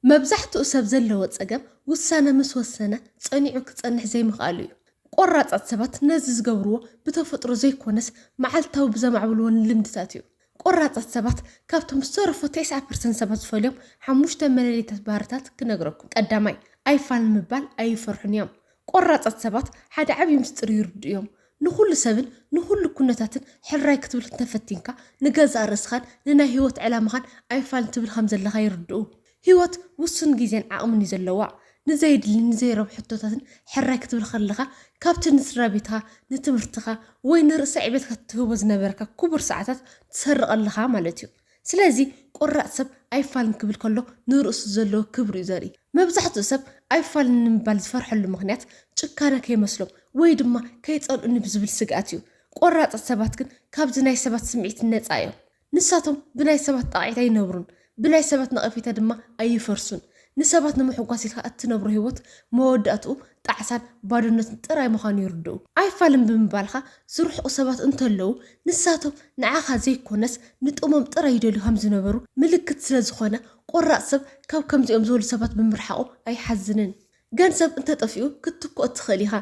መብዛሕትኡ ሰብ ዘለዎ ጸገም ውሳነ ምስ ወሰነ ጸኒዑ ክጸንሕ ዘይምኽኣሉ እዩ። ቆራጻት ሰባት ነዚ ዝገብርዎ ብተፈጥሮ ዘይኮነስ መዓልታዊ ብዘማዕብልዎ ንልምድታት እዩ። ቆራጻት ሰባት ካብቶም ዝተረፉ ተስዓ ፐርሰንት ሰባት ዝፈልዮም ሓሙሽተ መለለይታት ባህርታት ክነግረኩም። ቀዳማይ፣ ኣይፋልን ምባል ኣይፈርሑን እዮም። ቆራጻት ሰባት ሓደ ዓቢ ምስጢር ይርድኡ እዮም። ንኹሉ ሰብን ንኹሉ ኩነታትን ሕራይ ክትብል እንተ ፈቲንካ፣ ንገዛእ ርእስኻን ንናይ ህይወት ዕላማኻን ኣይፋል ትብል ከም ዘለኻ ይርድኡ። ህይወት ውሱን ግዜን ዓቕምን እዩ ዘለዋ። ንዘየድልን ንዘይረብሑ ሕቶታትን ሕራይ ክትብል ከለኻ፣ ካብቲ ንስድራቤትካ፣ ንትምህርትኻ፣ ወይ ንርእሰ ዕቤትካ እትህቦ ዝነበረካ ክቡር ሰዓታት ትሰርቕ ኣለኻ ማለት እዩ። ስለዚ ቆራጽ ሰብ ኣይፋልን ክብል ከሎ ንርእሱ ዘለዎ ክብሪ እዩ ዘርኢ። መብዛሕትኡ ሰብ ኣይፋልን ንምባል ዝፈርሐሉ ምኽንያት ጭካነ ከይመስሎም ወይ ድማ ከይጸልኡኒ ብዝብል ስግኣት እዩ። ቆራጻት ሰባት ግን ካብዚ ናይ ሰባት ስምዒት ነጻ እዮም። ንሳቶም ብናይ ሰባት ጣቕዒት ኣይነብሩን፣ ብናይ ሰባት ነቐፌታ ድማ ኣይፈርሱን። ንሰባት ንምሕጓስ ኢልካ እትነብሮ ህይወት መወዳእትኡ ጣዕሳን ባዶነትን ጥራይ ምዃኑ ይርድኡ። ኣይፋልን ብምባልካ ዝርሕቁ ሰባት እንተለዉ፣ ንሳቶም ንዓኻ ዘይኰነስ ንጥቕሞም ጥራይ ይደልዩ ከም ዝነበሩ ምልክት ስለ ዝዀነ፣ ቈራጽ ሰብ ካብ ከምዚኦም ዝበሉ ሰባት ብምርሓቑ ኣይሓዝንን። ገንዘብ እንተ ጠፊኡ ክትትክኦ ትኽእል ኢኻ፣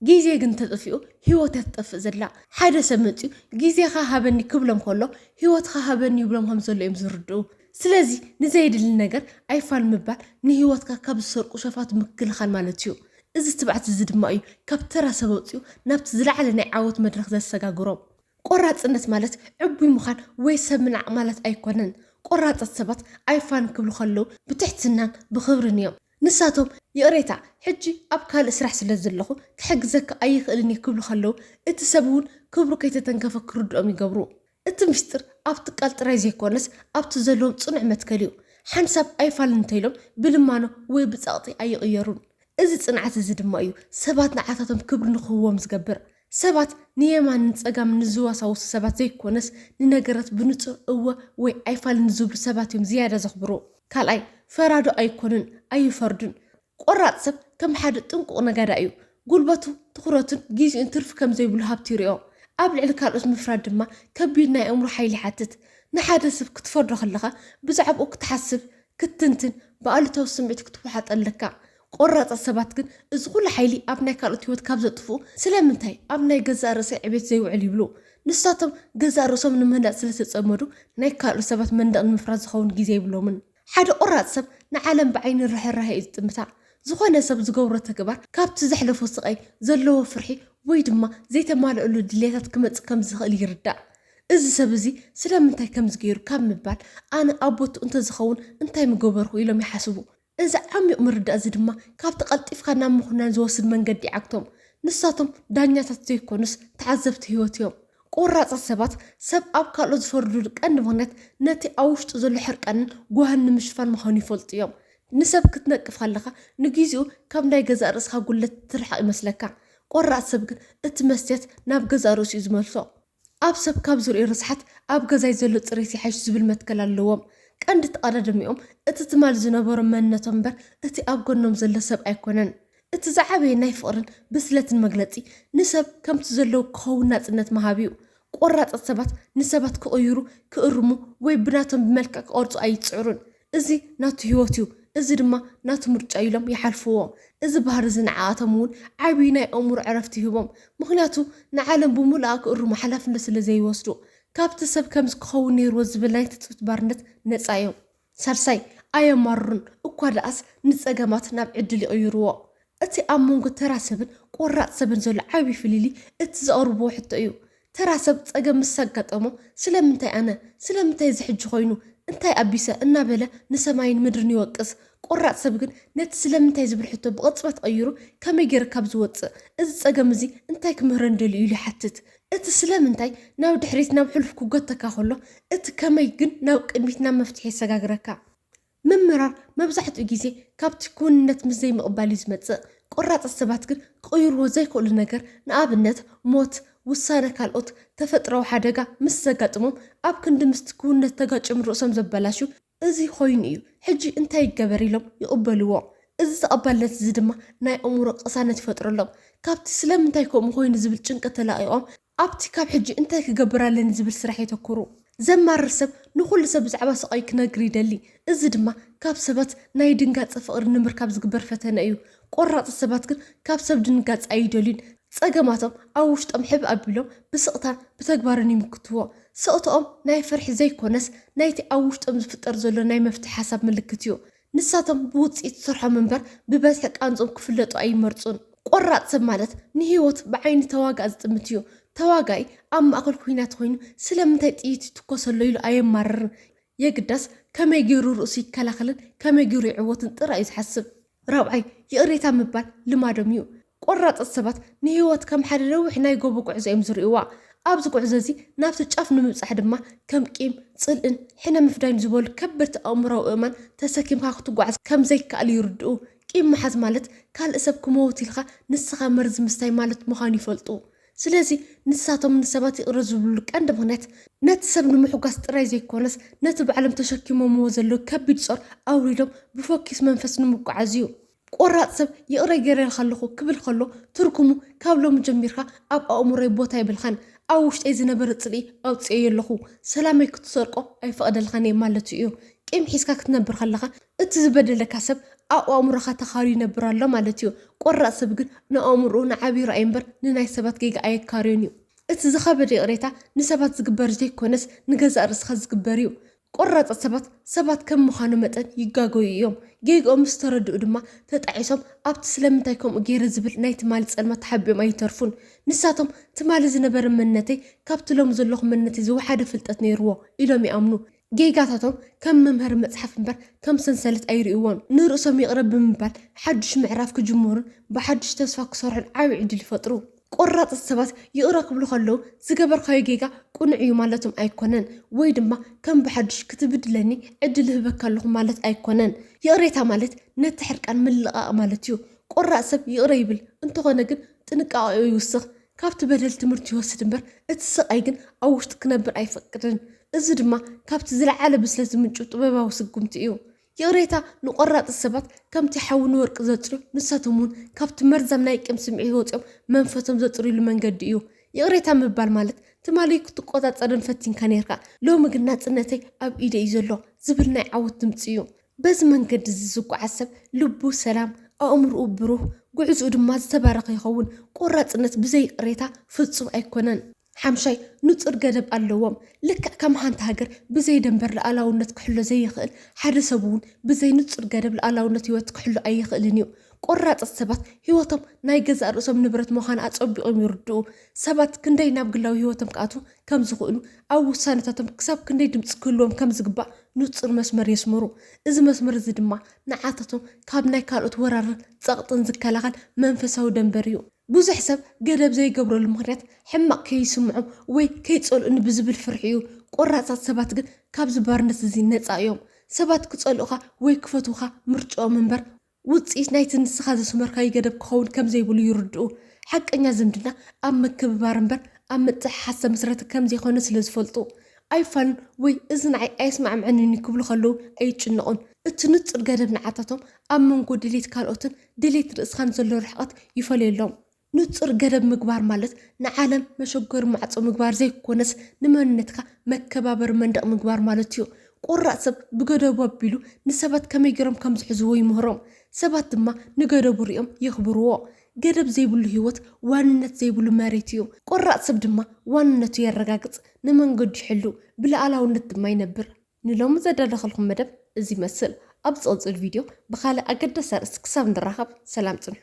ግዜ ግን ተጠፊኡ ሂወት እያ ትጠፍእ ዘላ። ሓደ ሰብ መጺኡ ግዜኻ ሃበኒ ክብሎም ከሎ ሂወትኻ ሃበኒ ይብሎም ከም ዘሎ እዮም ዝርድኡ። ስለዚ ንዘየድሊ ነገር ኣይፋል ምባል ንሂወትካ ካብ ዝሰርቁ ሸፋቱ ምክልኻል ማለት እዩ። እዚ ትብዓት እዚ ድማ እዩ ካብ ተራ ሰብ ኣውጺኡ ናብቲ ዝለዓለ ናይ ዓወት መድረኽ ዘሰጋግሮም። ቆራጽነት ማለት ዕቡይ ምዃን ወይ ሰብ ምንዓቕ ማለት ኣይኮነን። ቆራጻት ሰባት ኣይፋል ክብሉ ከለው ብትሕትናን ብኽብርን እዮም። ንሳቶም፣ ይቕሬታ፣ ሕጂ ኣብ ካልእ ስራሕ ስለ ዘለኹ ክሕግዘካ ኣይኽእልን እየ ክብሉ ከለዉ፣ እቲ ሰብ እውን ክብሩ ከይተተንከፈ ክርድኦም ይገብሩ። እቲ ምስጢር ኣብ ትካል ጥራይ ዘይኰነስ ኣብቲ ዘለዎም ጽኑዕ መትከል እዩ። ሓንሳብ ኣይፋልን እንተ ኢሎም ብልማኖ ወይ ብጸቕጢ ኣይቕየሩን። እዚ ጽንዓት እዚ ድማ እዩ ሰባት ንዓታቶም ክብሪ ንኽህቡዎም ዝገብር። ሰባት ንየማን ንጸጋም ንዝዋሳወሱ ሰባት ዘይኮነስ፣ ንነገራት ብንጹር እወ ወይ ኣይፋል ንዝብሉ ሰባት እዮም ዝያዳ ዘኽብሩ። ካልኣይ፣ ፈራዶ ኣይኮኑን፣ ኣይፈርዱን። ቆራጽ ሰብ ከም ሓደ ጥንቁቕ ነጋዳይ እዩ። ጉልበቱ፣ ትኹረቱን ግዜኡን ትርፊ ከም ዘይብሉ ሃብቲ ይሪኦ። ኣብ ልዕሊ ካልኦት ምፍራድ ድማ ከቢድ ናይ ኣእምሮ ሓይሊ ይሓትት። ንሓደ ሰብ ክትፈርዶ ከለኻ ብዛዕባኡ ክትሓስብ፣ ክትትንትን፣ ብኣሉታዊ ስምዒት ክትወሓጦ ኣለካ። ቆራጻት ሰባት ግን እዚ ኹሉ ሓይሊ ኣብ ናይ ካልኦት ህይወት ካብ ዘጥፍኡ ስለምንታይ ኣብ ናይ ገዛእ ርእሰይ ዕቤት ዘይውዕል ይብሉ። ንሳቶም ገዛእ ርእሶም ንምህናጽ ስለ ዝተጸመዱ ናይ ካልኦት ሰባት መንደቕ ንምፍራስ ዝኸውን ግዜ የብሎምን። ሓደ ቆራጽ ሰብ ንዓለም ብዓይኒ ርሕራሔ እዩ ዝጥምታ። ዝኾነ ሰብ ዝገብሮ ተግባር ካብቲ ዘሕለፎ ስቓይ ዘለዎ ፍርሒ ወይ ድማ ዘይተማልኣሉ ድልየታት ክመጽእ ከም ዝኽእል ይርዳእ። እዚ ሰብ እዚ ስለምንታይ ከምዚ ገይሩ ካብ ምባል ኣነ ኣብ ቦትኡ እንተዝኸውን እንታይ ምገበርኩ ኢሎም ይሓስቡ። እዚ ዓሚቕ ምርዳእ እዚ ድማ ካብቲ ቀልጢፍካ ናብ ምኹናን ዝወስድ መንገዲ ይዓግቶም። ንሳቶም ዳኛታት ዘይኮኑስ ተዓዘብቲ ህይወት እዮም። ቆራጻት ሰባት፣ ሰብ ኣብ ካልኦት ዝፈርዱሉ ቀንዲ ምኽንያት ነቲ ኣብ ውሽጡ ዘሎ ሕርቃንን ጓህን ንምሽፋን ምዃኑ ይፈልጡ እዮም። ንሰብ ክትነቅፍ ከለኻ ንግዜኡ ካብ ናይ ገዛእ ርእስኻ ጉድለት ትርሕቕ ይመስለካ። ቆራጽ ሰብ ግን እቲ መስትያት ናብ ገዛእ ርእሱ'ዩ ዝመልሶ። ኣብ ሰብ ካብ ዝርእዮ ርስሓት ኣብ ገዛይ ዘሎ ፅሬት ይሓይሽ ዝብል መትከል ኣለዎም። ቀንዲ ተቐዳድሚኦም እቲ ትማል ዝነበሮም መንነቶም እምበር እቲ ኣብ ጎኖም ዘሎ ሰብ ኣይኮነን። እቲ ዝዓበየ ናይ ፍቕርን ብስለትን መግለፂ ንሰብ ከምቲ ዘለዉ ክኸውን ናፅነት ምሃብ እዩ። ቆራፃት ሰባት ንሰባት ክቕይሩ፣ ክእርሙ ወይ ብናቶም ብመልክዕ ክቐርፁ ኣይፅዕሩን። እዚ ናቱ ህይወት እዩ፣ እዚ ድማ ናቱ ምርጫ እዩ ኢሎም ይሓልፍዎ። እዚ ባህሪ እዚ ንዓኣቶም እውን ዓብዪ ናይ ኣእምሮ ዕረፍቲ ይህቦም፣ ምኽንያቱ ንዓለም ብምሉኣ ክእርሙ ሓላፍነት ስለ ዘይወስዱ። ካብቲ ሰብ ከምዚ ክኸውን ነይርዎ ዝብል ናይ ትጽቢት ባርነት ነጻ እዮም። ሳልሳይ፣ ኣየማርሩን፣ እኳ ደኣስ ንጸገማት ናብ ዕድል ይቕይርዎ። እቲ ኣብ መንጎ ተራ ሰብን ቆራፅ ሰብን ዘሎ ዓብዪ ፍልልይ እቲ ዘቕርብዎ ሕቶ እዩ። ተራ ሰብ ፀገም ምስ ኣጋጠሞ ስለምንታይ ኣነ? ስለምንታይ እዚ ሕጂ ኮይኑ? እንታይ ኣቢሰ? እናበለ ንሰማይን ምድርን ይወቅስ። ቆራፅ ሰብ ግን ነቲ ስለምንታይ ዝብል ሕቶ ብቕፅበት ቐይሩ ከመይ ገይረ ካብ ዝወፅእ? እዚ ፀገም እዚ እንታይ ክምህረኒ ደልዩ? ኢሉ ይሓትት። እቲ ስለምንታይ ናብ ድሕሪት ናብ ሕሉፍ ክጎተካ ከሎ እቲ ከመይ ግን ናብ ቅድሚት ናብ መፍትሒ የሰጋግረካ። ምምራር መብዛሕትኡ ግዜ ካብቲ ክውንነት ምስ ዘይምቕባል እዩ ዝመጽእ። ቈራጻት ሰባት ግን ክቕይርዎ ዘይክእሉ ነገር፣ ንኣብነት ሞት፣ ውሳነ ካልኦት፣ ተፈጥሮኣዊ ሓደጋ ምስ ዘጋጥሞም ኣብ ክንዲ ምስቲ ክውንነት ተጋጭዮም ርእሶም ዘበላሹ፣ እዚ ዀይኑ እዩ ሕጂ እንታይ ይገበር ኢሎም ይቕበልዎ። እዚ ተቐባልነት እዚ ድማ ናይ ኣእምሮ ቅሳነት ይፈጥረሎም። ካብቲ ስለምንታይ ከምኡ ዀይኑ ዝብል ጭንቀት ተላቒቖም ኣብቲ ካብ ሕጂ እንታይ ክገብር ኣለኒ ዝብል ስራሕ የተኩሩ። ዘማርር ሰብ ንኹሉ ሰብ ብዛዕባ ስቓዩ ክነግር ይደሊ፣ እዚ ድማ ካብ ሰባት ናይ ድንጋጸ ፍቕሪ ንምርካብ ዝግበር ፈተነ እዩ። ቈራጻት ሰባት ግን ካብ ሰብ ድንጋጸ ኣይደልዩን። ጸገማቶም ኣብ ውሽጦም ሕብእ ኣቢሎም ብስቕታን ብተግባርን ይምክትዎ። ስቕታኦም ናይ ፍርሒ ዘይኰነስ፣ ናይቲ ኣብ ውሽጦም ዝፍጠር ዘሎ ናይ መፍትሒ ሓሳብ ምልክት እዩ። ንሳቶም ብውጽኢት ስርሖም እምበር ብበዝሒ ቃንዝኦም ክፍለጡ ኣይመርጹን። ቆራጽ ሰብ ማለት ንህይወት ብዓይኒ ተዋጋኢ ዝጥምት እዩ። ተዋጋኢ ኣብ ማእከል ኲናት ኾይኑ ስለምንታይ ጥይት ይትኮሰሎ ኢሉ ኣየማርርን። የግዳስ ከመይ ገይሩ ርእሱ ይከላኸልን ከመይ ገይሩ ይዕወትን ጥራይ እዩ ዝሓስብ። ራብዓይ፣ ይቕሬታ ምባል ልማዶም እዩ። ቆራጽት ሰባት ንህይወት ከም ሓደ ነዊሕ ናይ ጎቦ ጉዕዞ እዮም ዝርእዩዋ። ኣብዚ ጉዕዞ እዚ ናብቲ ጫፍ ንምብጻሕ ድማ ከም ቂም፣ ጽልእን ሕነ ምፍዳይን ዝበሉ ከበድቲ ኣእምሮኣዊ እእማን ተሰኪምካ ክትጓዓዝ ከም ዘይከኣል ይርድኡ። ቂም ምሓዝ ማለት ካልእ ሰብ ክመውት ኢልካ ንስኻ መርዚ ምስታይ ማለት ምዃኑ ይፈልጡ። ስለዚ ንሳቶም ንሰባት ይቕረ ዝብልሉ ቀንዲ ምኽንያት ነቲ ሰብ ንምሕጓስ ጥራይ ዘይኮነስ ነቲ ባዕሎም ተሸኪሞምዎ ዘለዉ ከቢድ ጾር ኣውሪዶም ብፎኪስ መንፈስ ንምጉዓዝ እዩ። ቆራጽ ሰብ ይቕረ ገይረልካ ኣለኹ ክብል ከሎ ትርጉሙ ካብ ሎሚ ጀሚርካ ኣብ ኣእምሮይ ቦታ የብልካን፣ ኣብ ውሽጠይ ዝነበረ ጽልኢ ኣውጺኤዮ ኣለኹ፣ ሰላመይ ክትሰርቆ ኣይፈቕደልካን እየ ማለቱ እዩ። ቂም ሒዝካ ክትነብር ከለኻ እቲ ዝበደለካ ሰብ ኣብ ኣእምሮኻ ተኻርዩ ይነብር ኣሎ ማለት እዩ። ቆራጽ ሰብ ግን ንኣእምሮኡ ንዓብዩ ራእይ እምበር ንናይ ሰባት ጌጋ ኣየካርዮን እዩ። እቲ ዝኸበደ ይቕሬታ ንሰባት ዝግበር ዘይኮነስ ንገዛእ ርእስኻ ዝግበር እዩ። ቆራፃት ሰባት ሰባት ከም ምዃኖም መጠን ይጋገዩ እዮም። ጌግኦም ምስ ተረድኡ ድማ ተጣዒሶም ኣብቲ ስለምንታይ ከምኡ ገይረ ዝብል ናይ ትማሊ ፀልማት ተሓቢኦም ኣይተርፉን። ንሳቶም ትማሊ ዝነበረ መንነተይ ካብቲ ሎሚ ዘለኹ መንነተይ ዝወሓደ ፍልጠት ነይሩዎ ኢሎም ይኣምኑ። ጌጋታቶም ከም መምሀሪ መፅሓፍ እምበር ከም ሰንሰለት ኣይሪኡዎን። ንርእሶም ይቕረ ብምባል ሓዱሽ ምዕራፍ ክጅምሩን ብሓዱሽ ተስፋ ክሰርሑን ዓብዪ ዕድል ይፈጥሩ። ቆራጽት ሰባት ይቕረ ክብሉ ከለዉ ዝገበርካዮ ጌጋ ቅኑዕ እዩ ማለቶም ኣይኮነን ወይ ድማ ከም ብሓዱሽ ክትብድለኒ ዕድል እህበካ ኣለኹ ማለት ኣይኮነን። ይቕሬታ ማለት ነቲ ሕርቃን ምልቓቕ ማለት እዩ። ቆራጽ ሰብ ይቕረ ይብል፣ እንተኾነ ግን ጥንቃቐኡ ይውስኽ። ካብቲ በደል ትምህርቲ ይወስድ እምበር እቲ ስቓይ ግን ኣብ ውሽጡ ክነብር ኣይፈቅድን። እዚ ድማ ካብቲ ዝለዓለ ብስለት ዝምንጩ ጥበባዊ ስጉምቲ እዩ። ይቕሬታ ንቆራጽ ሰባት ከምቲ ሓዊ ንወርቂ ዘጽርዮ ንሳቶም ውን ካብቲ መርዛም ናይ ቂም ስምዒት ወጺኦም መንፈሶም ዘጽርይሉ መንገዲ እዩ ይቕሬታ ምባል ማለት ትማሊ ክትቆጻጸርን ፈቲንካ ኔርካ ሎሚ ግን ናጽነተይ ኣብ ኢደይ እዩ ዘሎ ዝብል ናይ ዓወት ድምጺ እዩ በዚ መንገዲ እዚ ዝጓዓዝ ሰብ ልቡ ሰላም ኣእምርኡ ብሩህ ጉዕዝኡ ድማ ዝተባረኸ ይኸውን ቆራጽነት ብዘይ ይቕሬታ ፍጹም ኣይኮነን። ሓምሻይ፣ ንጹር ገደብ ኣለዎም። ልክዕ ከም ሓንቲ ሃገር ብዘይ ደንበር ልኣላውነት ክሕሎ ዘይኽእል፣ ሓደ ሰብ'ውን ብዘይ ንጹር ገደብ ልኣላውነት ህይወት ክሕሉ ኣይኽእልን እዩ። ቆራጽት ሰባት ህይወቶም ናይ ገዛእ ርእሶም ንብረት ምዃና ኣጸቢቖም ይርድኡ። ሰባት ክንደይ ናብ ግላዊ ህይወቶም ክኣትዉ ከም ዝኽእሉ፣ ኣብ ውሳነታቶም ክሳብ ክንደይ ድምጺ ክህልዎም ከም ዝግባእ ንጹር መስመር የስምሩ። እዚ መስመር እዚ ድማ ንዓታቶም ካብ ናይ ካልኦት ወራርን ጸቕጥን ዝከላኸል መንፈሳዊ ደንበር እዩ። ብዙሕ ሰብ ገደብ ዘይገብረሉ ምኽንያት ሕማቕ ከይስምዖም ወይ ከይጸልኡኒ ብዝብል ፍርሒ እዩ። ቈራጻት ሰባት ግን ካብዚ ባርነት እዚ ነጻ እዮም። ሰባት ክጸልኡኻ ወይ ክፈትዉኻ ምርጭኦም እምበር፣ ውጽኢት ናይቲ ንስኻ ዘስመርካዩ ገደብ ክኸውን ከም ዘይብሉ ይርድኡ። ሓቀኛ ዝምድና ኣብ ምክብባር እምበር ኣብ ምጥሕሓስ ዝተመስረተ ከም ዘይኮነ ስለ ዝፈልጡ፣ ኣይፋሉን ወይ እዚ ንዓይ ኣየስማዕምዐንን'ዩ ክብሉ ከለዉ ኣይጭነቑን። እቲ ንጹር ገደብ ንዓታቶም ኣብ መንጎ ድሌት ካልኦትን ድሌት ርእስኻን ዘሎ ርሕቐት ይፈለየሎም። ንጹር ገደብ ምግባር ማለት ንዓለም መሸጎሪ ማዕጾ ምግባር ዘይኮነስ ንመንነትካ መከባበሪ መንደቕ ምግባር ማለት'ዩ። ቆራጽ ሰብ ብገደቡ ኣቢሉ ንሰባት ከመይ ጌሮም ከም ዝሕዝዎ ይምህሮም። ሰባት ድማ ንገደቡ ሪኦም የኽብርዎ። ገደብ ዘይብሉ ህይወት ዋንነት ዘይብሉ መሬት'ዩ። ቆራጽ ሰብ ድማ ዋንነቱ የረጋግጽ፣ ንመንገዱ ይሕሉ፣ ብልኣላውነት ድማ ይነብር። ንሎሚ ዘዳለኸልኩም መደብ እዚ ይመስል። ኣብ ዝቕጽል ቪድዮ ብኻልእ ኣገዳሲ ኣርእስቲ ክሳብ ንራኸብ ሰላም ጽንሑ።